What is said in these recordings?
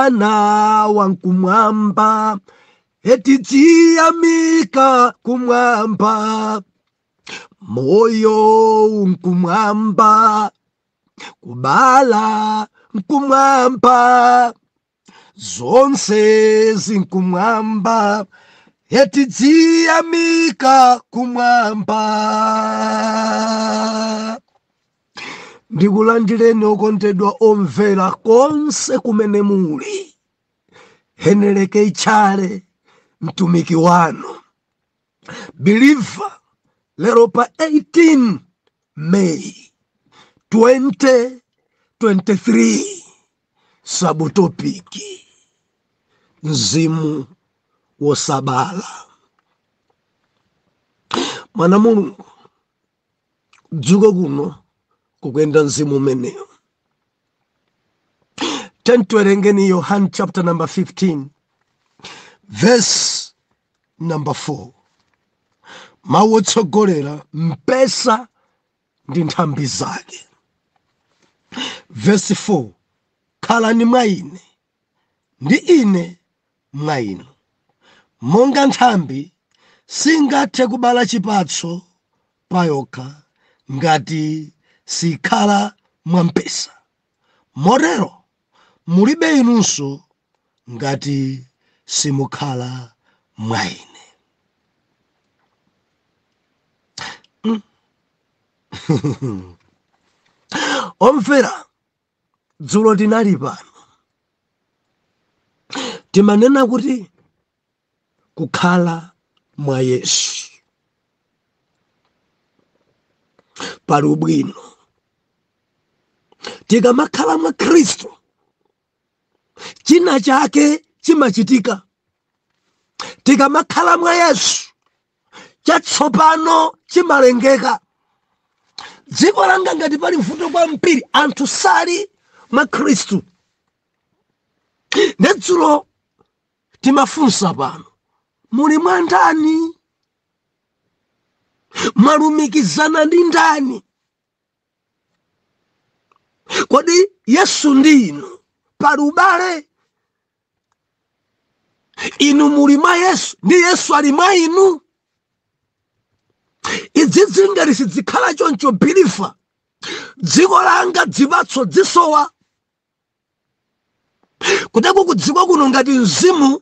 Ana wa nkumwamba eti tiyamika kumwamba moyo nkumwamba kubala nkumwamba zonse zi nkumwamba eti tiyamika kumwamba ndikulandireni okondedwa omvera konse kumene muli heneleke itchale mtumiki wanu biliva lero pa 18 may 2023 sabutopiki mzimu wosabala mwana mulungu dzuka kuno kukuyenda mzimu umenewo tiyeni tiwerengeni yohani chapter number 15 verse number 4 mawu otsogolera mpesa ndi nthambi zake verse 4 khalani mwa ine ndi Ine mwa inu. Monga nthambi singathe kubala chipatso payokha ngati sikhala mwa mpesa, motero mulibe inunso ngati simukhala mwa Ine. Mm. Omvera, dzulo tinali pano timanena kuti kukhala mwa yesu pali ubwino tikamakhala mwa khristu china chake chimachitika tikamakhala mwa yesu chatsopano chimalengeka dziko langa ngati pali mvuto kwambiri anthu sali mwa khristu nde dzulo timafunsa pano muli mwa ndani mwalumikizana ndi ndani kodi yesu ndi inu pali ubale inu muli mwa yesu ndi yesu ali mwa inu izizi ngati sizikhala choncho biliva dziko langa zipatso zisowa kuteko kudzikoli kuno ngati mzimu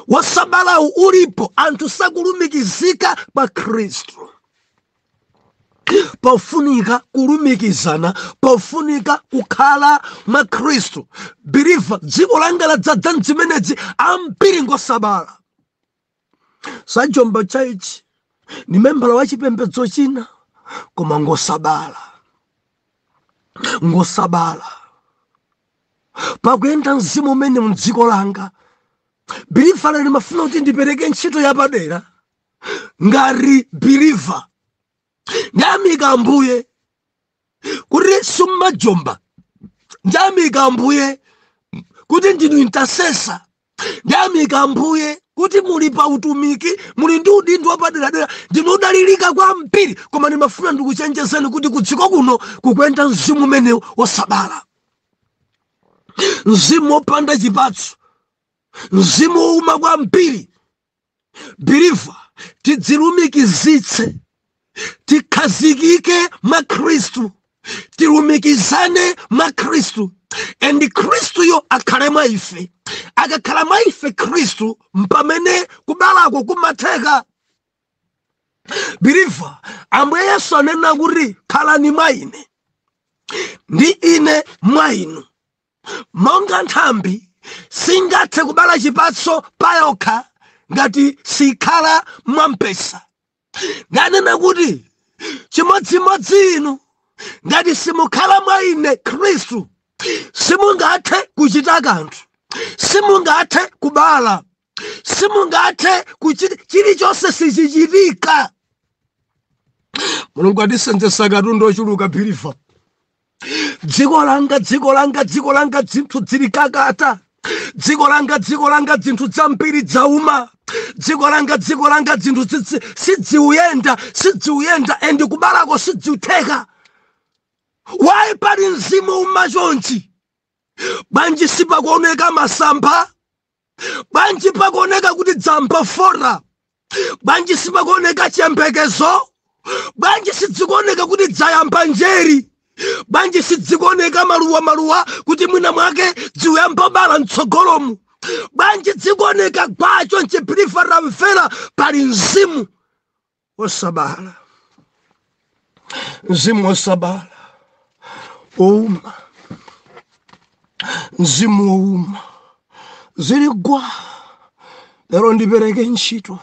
wosabalawu ulipo anthu sakulumikizika pa khristu pofunika kulumikizana pofunika kukhala mwa khristu believer dziko langa ladzadza mzimenezi ambiri ngosabala sajomba chaichi ndi membala wa chipembedzo china koma ngosabala ngosabala pakuyenda mzimu umene mdziko langa believer ndimafuna kuti ndipereke ntchito yapadera ngati believer ndiyamika ambuye kuti simumajomba ndiyamika ambuye kuti ndinu intercessor Ndiyamika Ambuye kuti muli pa utumiki muli ndi udindo wapaderadera ndinu odalirika kwambiri koma ndimafuna ndikuchenjezeni kuti kudziko kuno kukuyenda mzimu umenewu wosabala mzimu wopanda chipatso mzimu wouma kwambiri believer tidzilumikizitse tikhazikike mwa khristu tilumikizane mwa khristu and khristuyo akhale mwa ife akakhala mwa ife khristu mpamene kubalako kumatheka believer ambuye yesu anena kuti khalani mwa ine ndi ine mwa inu Monga nthambi singathe kubala chipatso payokha ngati sikhala mwa mpesa, nanena kuti, Chimodzimodzi inu, ngati simukhala mwa ine, Khristu, simungathe kuchita kanthu, simungathe kubala. simungathe chilichonse sichichitika mulungu atisenzetsa katundu ochuluka believer dziko langa dziko langa dziko langa dzinthu dzili kakata dziko langa dziko langa dzinthu dzambiri dzauma dziko langa dziko langa dzinthu sidziuyenda sidziuyenda and kubalako sidziutheka why pali mzimu wouma chonchi bwanji sipakuoneka masamba bwanji pakuoneka kuti dzamba fota bwanji sipakuoneka chiyembekezo bwanji sidzikuoneka kuti dzayamba njere bwanji sidzikuoneka maluwa maluwa kuti mwina mwake dziuyambo bala mtsogolomu bwanji dzikuoneka gwa chonchi believer tamvera pali mzimu osabala mzimu osabala ouma mzimu ouma zili gwa lero ndipereke ntchito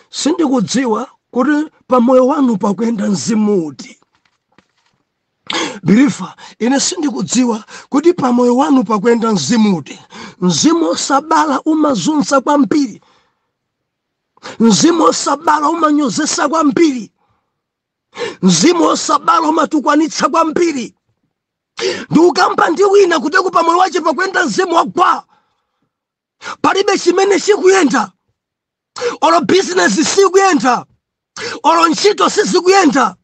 sindikudziwa kuti pamoyo wanu pakuyenda mzimu uti believer ine sindikudziwa kuti pamoyo wanu pakuyenda mzimu uti mzimu osabala umazunza kwambiri mzimu osabala umanyozesa kwambiri mzimu osabala umatukwanitsa kwambiri ndiukamba ndi wina kuti pamoyo wache pakuyenda mzimu wagwa palibe chimene chikuyenda olo bizinesi sikuyenda olo ntchito sizikuyenda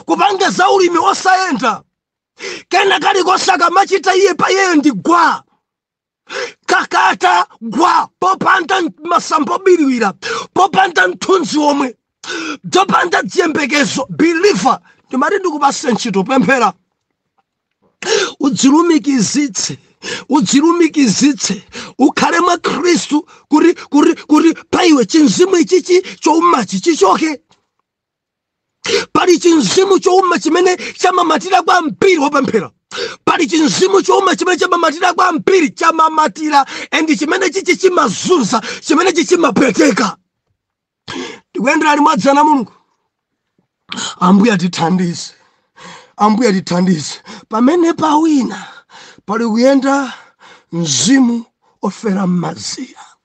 kupanga za ulimi osayenda kena kalikonse akamachita iye pa iyeyo ndi gwa kakata gwa popanda masamba obiriwira popanda mthunzi omwe popanda dziyembekezo believer ndimati ndikupasa ntchito pemphera udzilumikizitse udzilumikizitse ukhale mwa khristu kuti kuti kuti pa iwe chinzimu ichichi choumachi chichoke pali chinzimu chouma chimene chamamatira kwa mpiri wopemphera pali chinzimu chouma chimene chamamatira kwa mpiri chamamatira and chimene chichi chimazunza chimene chichi chimapweteka tikuyendera limodzi ana a mulungu ambuye atithandize ambuye atithandize pamene pawina pali kuyenda mzimu ofera m'mazira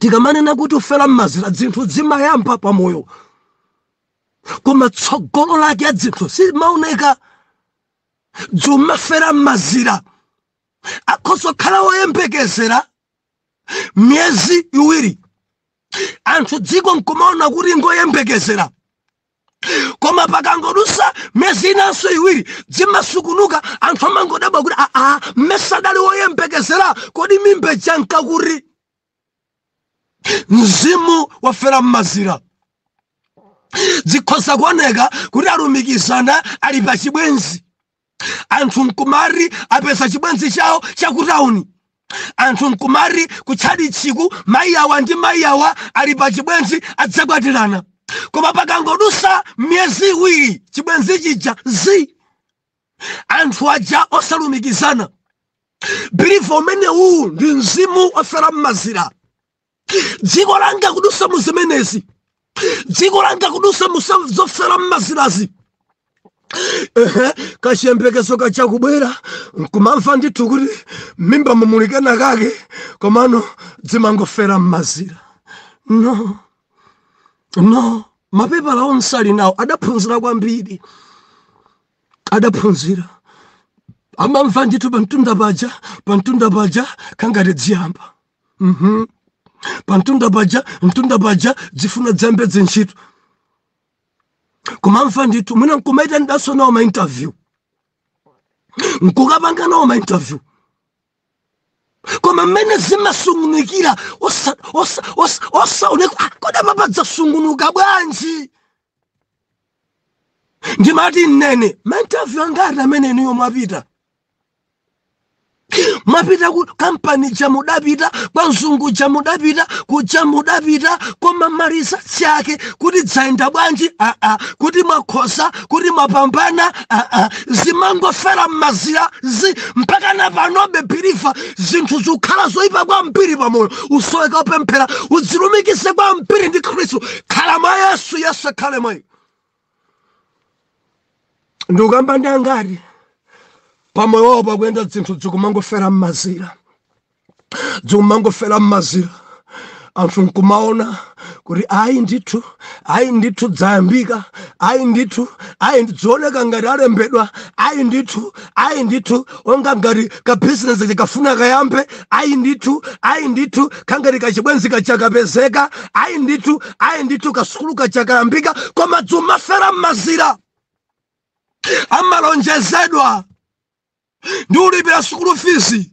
tikamanena kuti ofera m'mazira dzinthu dzimayamba pa moyo koma tsogolo lake ya dzinthu simaoneka dzumafera m'mazira akhoza kukhala woyembekezera miyezi iwiri anthu dziko nkumaona kuti ngoyembekezera koma pakangodusa miyezi inanso iwiri dzimasukunuka anthu amangodabwa kuti aa mmesa adali woyembekezera kodi mimba ija yanka kuti mzimu wofera mmazira zikhoza kuoneka kuti alumikizana ali pa chibwenzi anthu nkumari apeza chibwenzi chawo chakutauni anthu nkumari kutchalichiku mayi awa ndi mayi awa ali pa chibwenzi adzakwatirana koma pakangodusa miyezi iwiri chibwenzi chija zi anthu aja osalumikizana believer umenewu ndi mzimu ofera mmazira dziko langa kudusa mu zimenezi dziko langa kudusa mu zofera mmazirazi ehe kachiyembekezo kaja kubwera nkumamva ndithu kuti mmimbamu muli kanakake komano dzimangofera mmazira no no mapepala onse ali nawo adaphunzira kwambiri adaphunzira amamva ndithu pamtunda paja pamtunda paja kangati dziyamba Mhm. pamtunda paja mtunda paja dzifuna dziyambe dzintchito kumamva ndithu mwina nkumaitanidwaso nawo mainterview nkukapanga nawo mainterview koma mmene zimasungunukira osa- osa- osa- osaoneka "Ah, kodi apapa dzasungunuka bwanji ndimati nnene mainterview angati amene inuyo mwapita mwapita ku kampani ja mudapita kwa mzungu ja mudapita kuja mudapita koma maresults ake kuti dzayenda bwanji aa kuti mwakhosa kuti mwapambana aa zimangofera mmazirazi mpaka na panobe biliva zinthu zikukhala zoyipa kwambiri pamoyo usoweka upemphera udzilumikize kwambiri ndi khristu khala mwa yesu yesu akhale mwa iwe ndikukamba ndi angati pamoyo wawo pakuyenda dzinthu dzikumangofera mmazira dzikumangofera mmazira anthu nkumaona kuti ayi ndithu ayi ndithu dzayambika ayi ndithu ayi dzioneka ngati alembedwa ayi ndithu ayi ndithu onga ngati ka business chikafuna kayambe ayi ndithu ayi ndithu kangati kachibwenzi kaja kapezeka ayi ndithu ayi ndithu kasukulu kaja kayambika koma dzumafera m'mazira amalonjezedwa ndiulipira sukulu fizi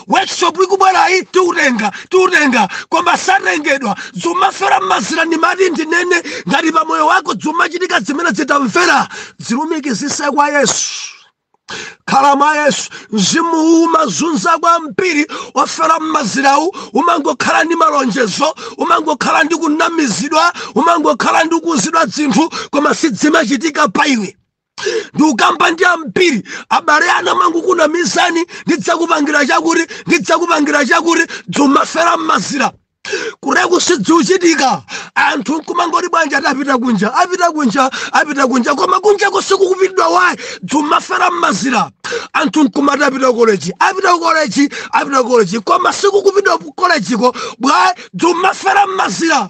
workshop ikubwerayi tiutenga tiutenga koma satengedwa zumafera mmazira ndimati ndinene ngati pa moyo wako zumachitika zimenezi tamvera zilumikizise kwa yesu khala mwa yesu mzimuwu umazunza kwambiri ofera mmazirawu umangokhala ndi malonjezo umangokhala ndi kunamizidwa umangokhala ndi kuuzidwa zinthu koma sizimachitika pa iwe ndikukamba ndi ambiri abale anu amangokunamizani ndidzakupangira chakuti ndidzakupangira chakuti dzumafera mmazira kureku sidziuchitika anthu nkumangoti bwanji ati apita kunja apita kunja apita kunja koma kunjako sikukupitidwa why dzumafera mmazira anthu nkumati apita koleji apita koleji apita koleji koma sikukupitidwa kolejiko why dzumafera mmazira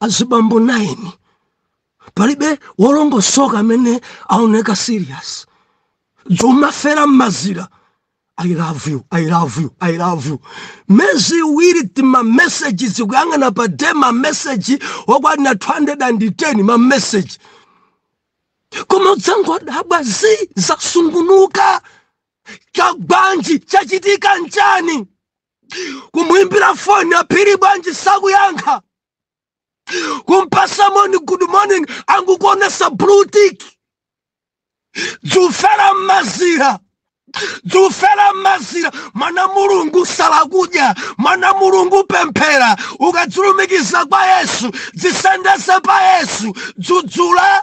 azibambo 9 palibe wolongosoka amene aoneka serious dzomafera mmazira i love you i love you i love you mezi iwiri timameseji zikuyang'ana pa day mameseji okwanira 210 mameseji koma udzangodabwa zi zasungunuka chagwanji chachitika nchani kumuimbira foni aphiri bwanji sakuyankha kumpasa moni good morning angukuonesa blue tick dzufera mmazira dzufera mmazira mwana mulungu sala kudya mwana mulungu pemphera ukadzilumikiza kwa yesu dzisendeze pa yesu dzudzula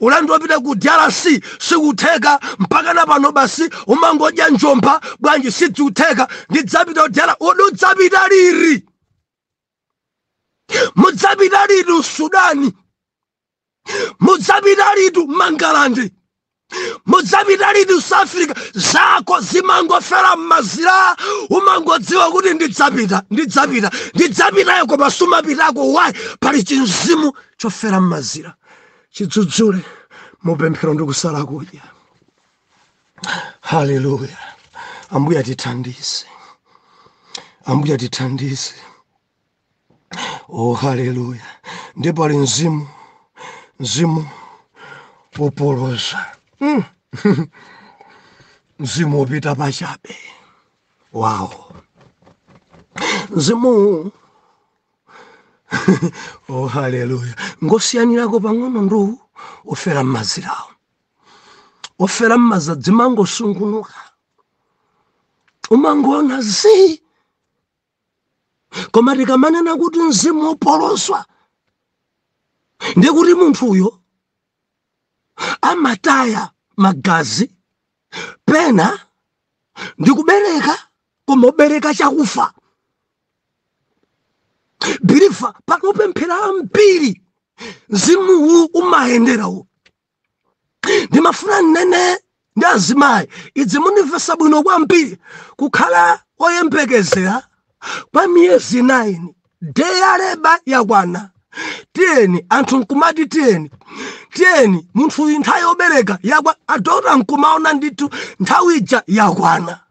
ulendo wopita ku drc sikutheka mpakana pano basi umangodya njomba bwanji sidzikutheka ndidzapita ku dr udzapita liti mudzapita liti ku sudan mudzapita liti ku mangalande mudzapita liti ku south africa zako zimangofera mmazira umangodziwa kuti ndidzapita ndidzapita ndidzapitayo koma sumapitako why pali chinzimu chofera mmazira chidzudzule mu pemphero ndi kusala kudya. Haleluya! Ambuye atithandize, Ambuye atithandize. Oh, haleluya! Ndipo ali mzimu mzimu wopoloza mm. mzimu wopita pachabe wow mzimu oh haleluya ngosiyanirako pang'ono ndi uwu ofera m'mazirawo ofera m'maza dzimangosungunuka umangoona zii koma tikamanena kuti mzimu wopoloswa ndiye kuti munthuyo amataya magazi pena ndikubereka koma ubereka chakufa believer pakopemphera ambiri mzimuwu umayenderawo ndimafuna nnene ndi azimayi idzi mundimvesa bwino kwambiri kukhala oyembekezera kwa miyezi 9 day ya labour yakwana tiyeni anthu nkumati tiyeni tiyeni munthu uyu nthawi yobereka yakwa adota nkumaona ndithu nthawi ija yakwana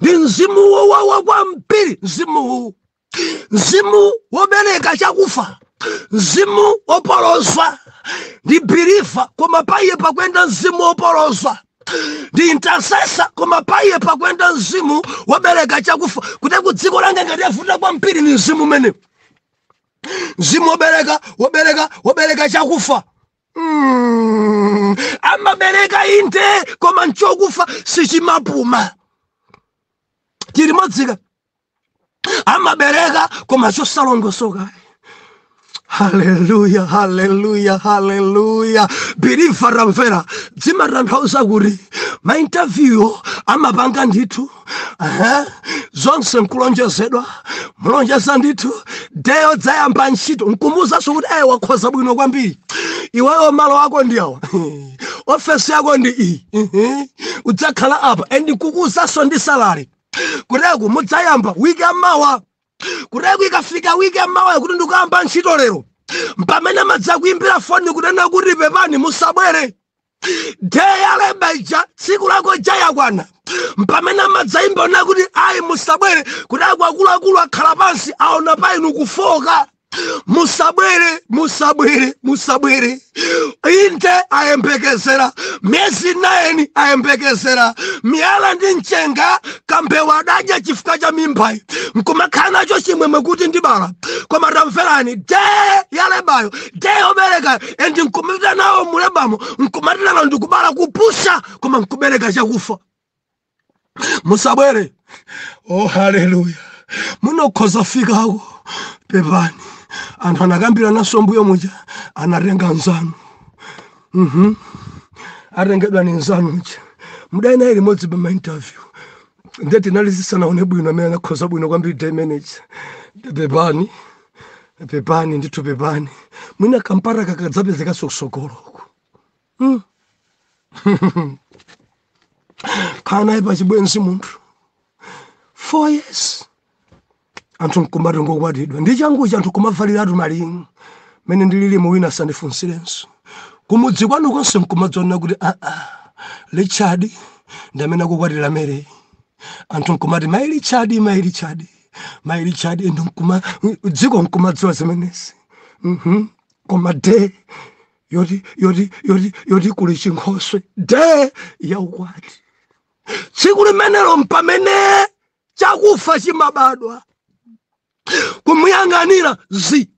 ndi mzimu wowawa kwambiri mzimuwu mzimu wobereka chakufa mzimu wopolozwa ndi biliva koma paiye pakwenda mzimu wopolozwa ndi intasesa koma paiye pakwenda mzimu wobereka chakufa kuti ku dziko langa ngati yavuta kwambiri ni mzimu umene mzimu wobereka wobereka wobereka chakufa Mm, amabereka inde koma nchokufa sichimapuma chilimodzika amabereka koma chosalongosoka haleluya haleluya haleluya biriva tamvera zimatanthauza kuti maintaviyuwo amapanga ndithu zonse nkulonjezedwa mulonjeza ndithu de yodzayamba ntchito nkumuuzanso kuti ayi wakhoza bwino kwambiri iweyo malo ako ndi awa ofesi yako ndi iyi udzakhala apa and nkukuuzanso ndi salari kuteku mudzayamba wiki yamawa kuteku ikafika wiki yamawa kuti ndikuyamba ntchito lero mpamene amadzakuimbira foni kunena kuti pepani musabwere de ya leba ija tsiku lako ija yakwana mpamene amadzaimba kunena kuti ayi musabwere kuti akuluakulu akhala pansi aona pa inu kufooka musabwere musabwere musabwere inde ayembekezera miyezi naini ayembekezera miyala ndi mchenga kambewa adadya chifukwa cha mimbayi nkumakhala nacho chimwemwe kuti ndibala koma tamverani de yalebayo de yoberekayo and nkumapita nawo mulebamo nkumati lero ndikubala kupusha koma nkubereka chakufa musabwere oh haleluya munokhoza fikako pepani anthu anakambirananso mbuyo muja anatenga nzanu mhm atengedwa ni nzanu uja mudali naye limodzi pa mainterview nde tinali tisanaone bwino amene anakhoza bwino kwambiri the manager pepani pepani ndithu pepani mwina kampata kakadzapezekanso kusogoloku hmm. khala naye pa chibwenzi munthu four years anthu nkumati ngokwatidwa ndi changuchi anthu kumavaliratu malinga mmene ndililimo wina asandifunsirenso kumudzi kwanu konse nkumadzaona kuti aa ah, ah, richard ndi amene akukwatira mary anthu nkumati mayi richard mayi richard mayi richard inu nkuma dziko nkumadziwa zimenezi Mhm. koma de yoti yoti yoti yoti kuli chinkhoswe de yaukwati tsiku limenelo mpamene chakufa chimabadwa kumuyang'anira zi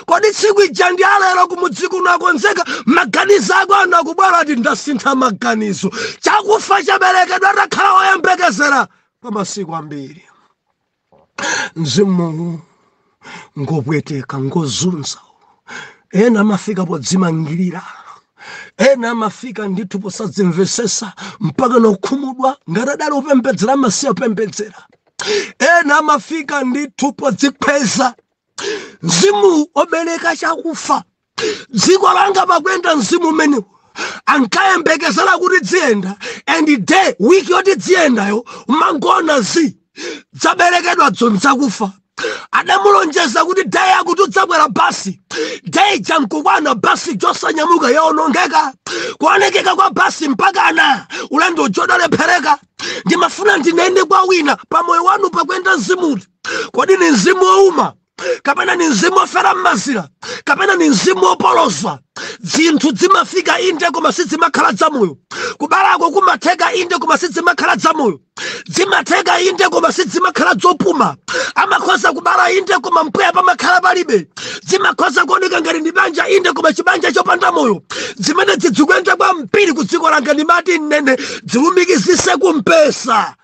kodi tsiku ija ndi alero kumudzi kuno akonzeka maganizo ako ano akubwera ati ndasintha maganizo chakufa chaberekedwa atakhala woyembekezera kwa masiku ambiri mzimuwu ngopweteka ngozunza ena amafika podzimangirira ena amafika ndithu posadzimvesesa mpaka nokhumudwa ngati adali opembedzera amasiya kupembedzera ena amafika ndithu podzikhweza mzimu obereka chakufa dziko langa pakwenda mzimu umenewu ankayembekezera kuti dziyenda and day wiki yoti dziyendayo umangoona zi dzaberekedwa dzoni dzakufa adamulonjeza kuti day yakuti udzakwera basi day ija nkukwana basi ija osanyamuka yaonongeka kuonekeka kwa basi mpakana ulendo uja udalephereka ndimafuna ndinene kwa wina pa moyo wanu pakuyenda mzimu uti kodi ni mzimu wouma kapena ni mzimu wofera m'mazira kapena ni mzimu wopoloza zinthu zimafika inde koma sizimakhala zamoyo kubalako kumatheka inde koma sizimakhala zamoyo zimatheka inde koma sizimakhala zopuma amakhoza kubala inde koma mpweya pamakhala palibe zimakhoza kuoneka ngati ndi banja inde koma chibanja chopanda moyo zimene zikuyenda kwambiri ku dziko langa ndimati ndinene zilumikizise kumpesa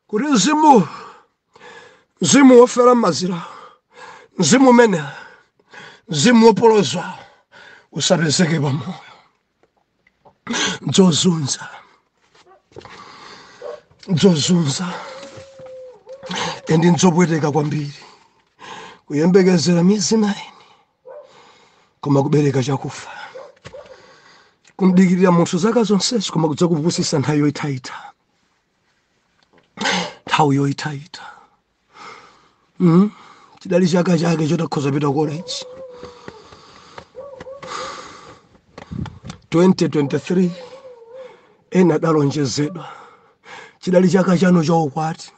kuti mzimu mzimu wofera m'mazira mzimu umene mzimu wopoloza usapezeke pamoyo dzozunza dzozunza endi ndzopweteka kwambiri kuyembekezera miyezi 9 koma kubereka chakufa kumdikirira munthu zaka zonsezo koma kudzakupusisa nthawi yoyitayita nthawi yoyitayita mm? chidali chaka chake choti akhoza pita college 2023 ena adalonjezedwa chidali chaka chanu cha ukwati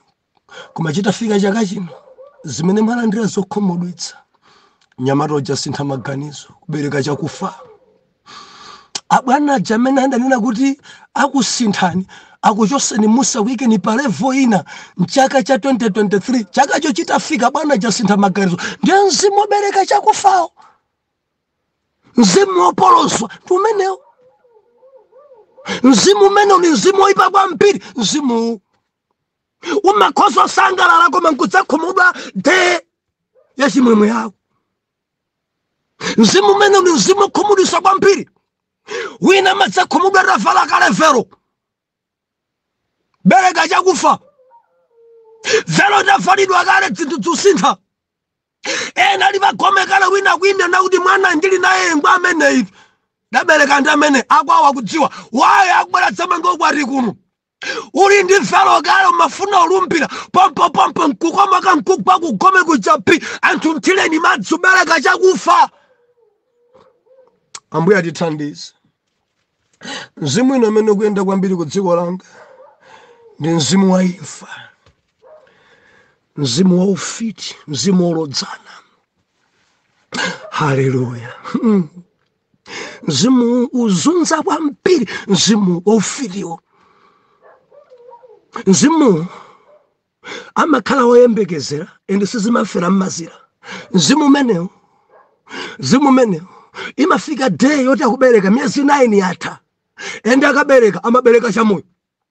koma chitafika chaka chino zimene mwalandira zokhumudwitsa mnyamata uja wasintha maganizo kubereka chakufa abwana aja amene adanena kuti akusinthani akuchoseni umu akuikeni pa levo ina mchaka cha 2023 chakacho chitafika bwana aja asintha maganizo ndiye mzimu wobereka chakufawo mzimu wopoloza ndi umenewo mzimu umenewu ndi mzimu woipa kwambiri mzimuwu umakhoza kusangalala koma nkudzakhumudwa de ya chimwemwe yako mzimu umene ndi mzimu okhumudwisa kwambiri wina amadzakhumudwa atavala kale velo bereka chakufa velo itavalidwa kale dzinthu dzusintha ena ali pagome kale wina akuyima nakuti mwana ndili naye ngwa ameneyi ndabereka ndi amene akwawa kudziwa waye akubwera dzamanga ukwati kuno uli ndi velo kale umafuna ulumbire pompopompo nkukomoka nkugwa kugome kuchapi anthu mthireni madzi ubereka chakufa ambuye atithandize mzimu wina amene ukuyenda kwambiri ku dziko langa ndi mzimu wa imfa mzimu wa ufiti mzimu wolodzana haleluya mzimu ozunza kwambiri mzimu waufitiwo mzimu amakhala woyembekezera ende sizimafera mmazira mzimu umenewo mzimu umenewo imafika day yoti akubereka miyezi 9 yatha ende akabereka amabereka chamoyo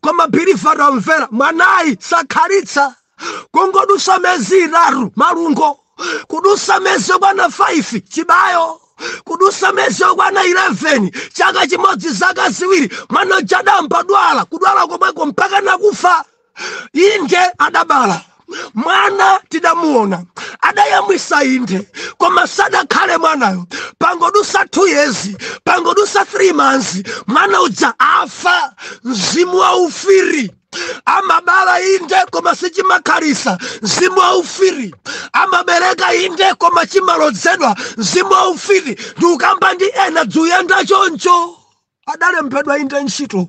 koma birifato amvera mwanayi sakhalitsa kungodusa mezi itatu malungo kudusa mezi yokwana 5 chibayo kudusa mezi yokwana 11 chaka chimodzi zaka ziwiri mwana uja adayamba dwala kudwala komweko mpaka nakufa inde adabala mwana tidamuona adayamwisa inde koma sadakhale mwanayo pangodusa 2 years pangodusa 3 months mwana uja afa mzimu wa ufiti amabala inde koma sichimakhalisa mzimu wa ufiti amabereka inde koma chimalodzedwa mzimu wa ufiti ndiukamba ndi ena dzuyenda choncho adalembedwa inde ntchito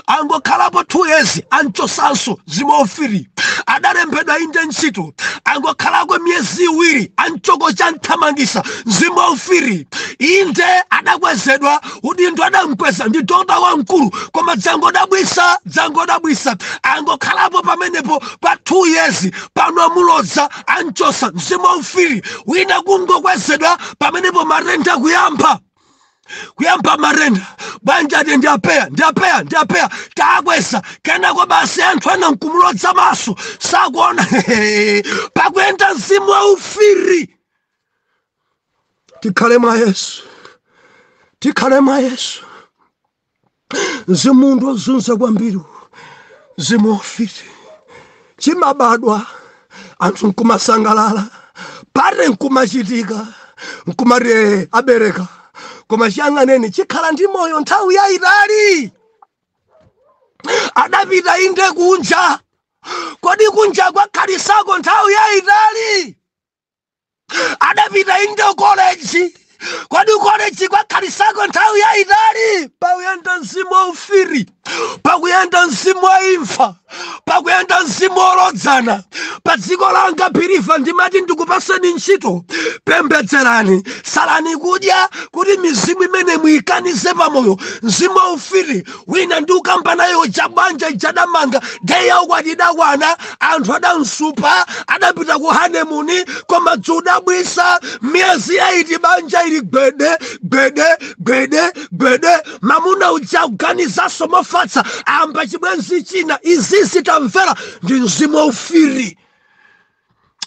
angokhalapo two years amchosanso mzimu wa ufiti adalembedwa inde ntchito angokhalako miyezi iwiri achoka chamthamangisa mzimu wa ufiti inde adakwezedwa udindo adamkweza ndi doctor wamkulu koma dzangodabwisa dzangodabwisa angokhalapo pamenepo pa two years pano amulodza amchosa mzimu wa ufiti wina kungokwezedwa pamenepo matenda kuyamba kuyamba matenda banja ati ndi a PEA ndi a PEA ndi a PEA takweza kenako basi anthu ena nkumulodza maso sakuona pakuyenda mzimu wa ufiti tikhale mwa yesu tikhale mwa yesu mzimu ndi ozunza kwambiri mzimu wa ufiti chimabadwa anthu nkumasangalala party nkumachitika nkumati eh abereka koma chiyang'aneni chikhala ndi moyo nthawi yayitali adapita inde kunja kodi kunja wakhalisako nthawi yayitali adapita inde ku college kodi ku college kwakhalisako nthawi yayitali pakuyenda mzimu wa ufiti pakuyenda mzimu wa imfa pakuyenda mzimu wolodzana pa dziko langa pirifa ndimati ndikupatseni ntchito pembedzerani salani kudya kuti mizimu imene muyikanize pamoyo mzimu wa ufiti wina ndikukamba naye uja banja ija adamanga day ya ukwati idakwana anthu adamsupa adapita ku honeymoon koma zodabwitsa miyezi eight banja ili gwede gwede gwede gwede mamuna uja kuganizanso mofatsa ayamba chibwenzi china izizi tamvera ndi mzimu waufiti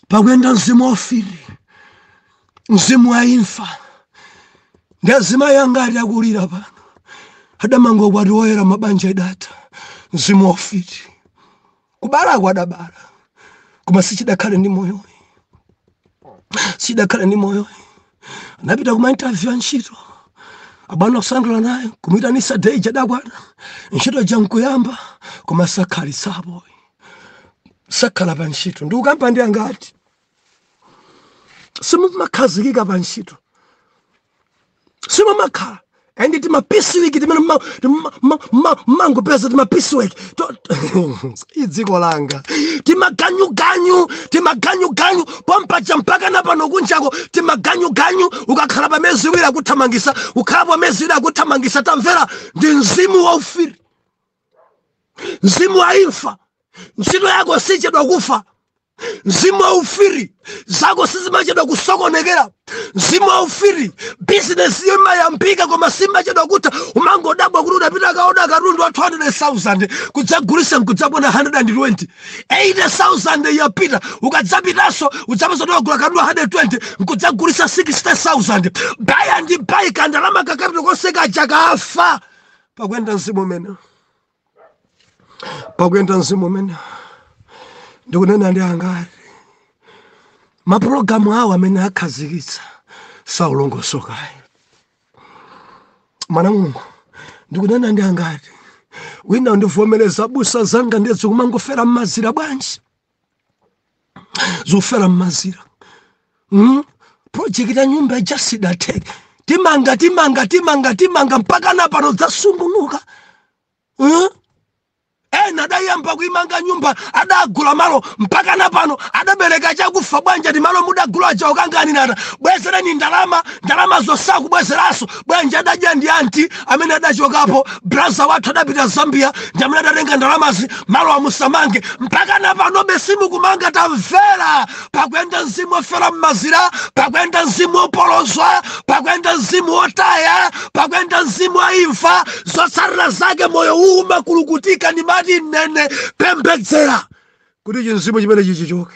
pakuyenda mzimu waufiti mzimu wa imfa ndi azimayi angati akulira pano adamanga ukwati woyera koma banja lidatha mzimu waufiti kubalako adabala koma sichidakhale ndi moyoyi sichidakhale ndi moyoyi anapita kuma interview ya ntchito abwana kusangalala naye kumuitanisa day ija idakwana ntchito ija nkuyamba koma sakhalitsapo sakhala pa ntchito ndikukamba ndi angati simumakhazikika pa ntchito simumakhala ndi timapisiwiki timene mmangopeza timapisiwiki m'dziko langa timaganyuganyu timaganyuganyu pompaja mpaka na pano kunjako timaganyuganyu ukakhala pa miyezi iwiri akuthamangitsa ukakhala pa miyezi iwiri akuthamangitsa tamvera ndi mzimu wa ufiti mzimu wa imfa ntchito yako sichedwa kufa mzimu wa ufiti zako sizimachedwa kusokonekera mzimu wa ufiti bizinesi iyo imayambika koma simachedwa kutha umangodabwa kuti udapita kukaoda katundu wa 200000 kudzagulitsa nkudzaona 120 80000 yapita ukadzapitanso udzapeza kuti wagula katundu wa 120 nkudzagulitsa 60000 by and by kandalama kakapita konse kaja kafa pakuyenda mzimu umene pakuyenda mzimu umene ndikunena ndi angati mapulogalamu awo amene akhazikitsa sakulongosokayi mwana wa mulungu ndikunena ndi angati wina akundivomereza abusa zanga nde zi kumangofera mmazira bwanji zofera mmazira mm? project ya nyumba ija sidatheke timanga timanga timanga timanga mpaka na pano zasungunuka mm? ena adayamba kuimanga nyumba adagula malo mpaka na pano adabereka chakufa bwanji timalo mudagula aja ukanganinata ndibwezereni ndalama ndalama zosakubwezeranso bwanji adadya ndi anti amene adachokapo braza wathu adapita zambia ndi amene adatenga ndalamazi malo amusamange mpaka na panobe simukumanga tamvera pakuyenda mzimu ofera mmazira pakuyenda mzimu opolozwa pakuyenda mzimu otaya pakuyenda mzimu wa imfa zotsatira zake moyo umakulukutika nimati nene pembedzera kuti chimzimu chimene chichoke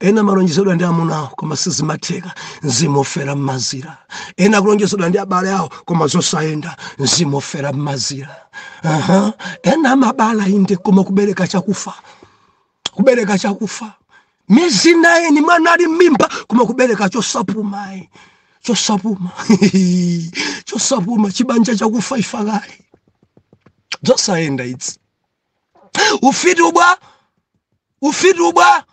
ena amalonjezedwa ndi amuna awo koma sizimatheka mzimu ofera mmazira ena akulonjezedwa ndi abale awo koma zosayenda mzimu ofera mmazira uh-huh. ena amabala inde koma kubereka chakufa kubereka chakufa miezi naini mwana ali mmimba koma kubereka chosapumayi chosapuma chosapuma chibanja chakufa ifakali zosayenda idzi ufiti ubwa ufiti ubwa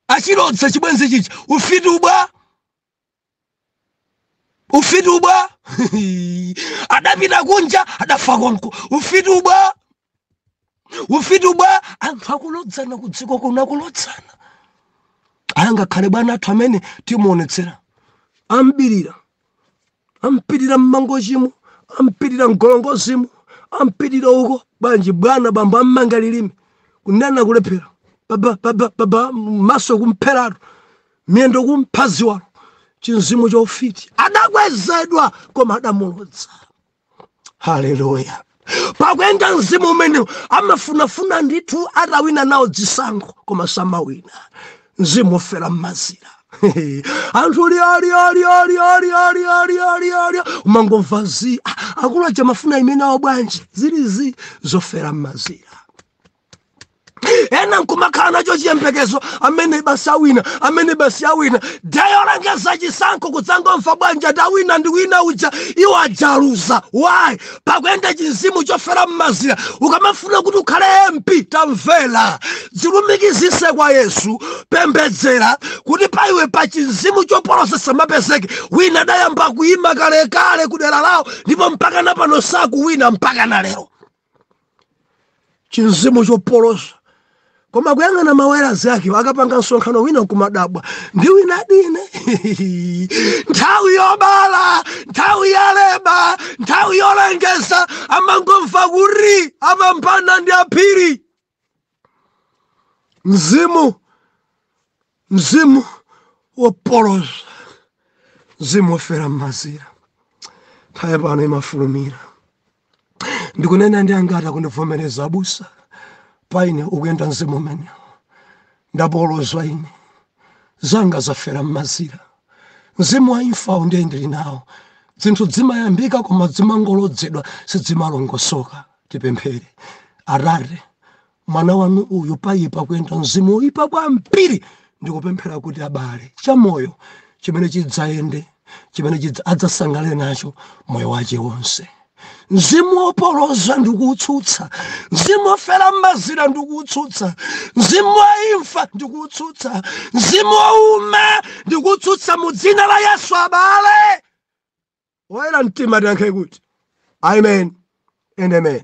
achilodza chibwenzi chichi ufiti ubwa ufiti ubwa adapita kunja adafa konko ufiti ubwa ufiti ubwa anthu akulodzana kudziko kuona akulodzana angakhale bwana athu amene timuonetsera ambirira ampirira mmangochimu ampirira mgolongozimo ampirira uko bwanji bwana bambo ammanga lilime kunena kulephera baba maso kumpheratu miyendo kumphaziwalo chimzimu cha ufiti adakwezedwa koma adamulodza haleluya pakuyenda mzimu umene amafunafuna ndithu atawina nawo zisankho koma samawina mzimu ofera mmazira anthu lioliolioliolioliolioliolio umangomva zi akulu aja mafuna imene awo bwanji zili zofera mmazira ena nkumakhala nacho chiyembekezo amene basi awina amene basi awina day yolengeza chisankho kudzangomva bwanji ati awina ndi wina uja iwo aja aluza why pakuyenda chimzimu chofera mmazira ukamafuna kuti ukhale mp tamvera dzilumikizitse kwa yesu pembedzera kuti pa iwe pa chimzimu chopoloza chisamapezeke wina adayamba kuyima kalekale kudera lawo ndipo mpaka na pano sakuwina mpaka na lero chimzimu chopoloza koma kuyang'ana ma way ake akapanga msonkhano wina nkumadabwa ndi wina dine nthawi yobala nthawi yaleba nthawi yolengeza amangomva kuti apambana ndi aphiri mzimu mzimu wopoloza mzimu wofera m'mazira nthawi pano imafulumira ndikunena ndi angati akundivomereza abusa pa ine ukuyenda mzimu umenewo ndapolozwa ine zanga zafera m'mazira mzimu wa imfa ndiye ndili nawo zinthu zimayambika koma zimangolodzedwa sidzimalongosoka tipemphere atate mwana wanu uyu payipa kuyenda mzimu woyipa kwambiri ndikupemphera kuti abale chamoyo chimene chidzayende chimene chidza- adzasangalale nacho moyo wache wonse mzimu wopoloza ndikuutsutsa mzimu wofera m'mazira ndikuutsutsa mzimu wa imfa ndikuutsutsa mzimu wouma ndikuutsutsa mu dzina la yesu abale oyera mtima tiyankhe kuti amen and amen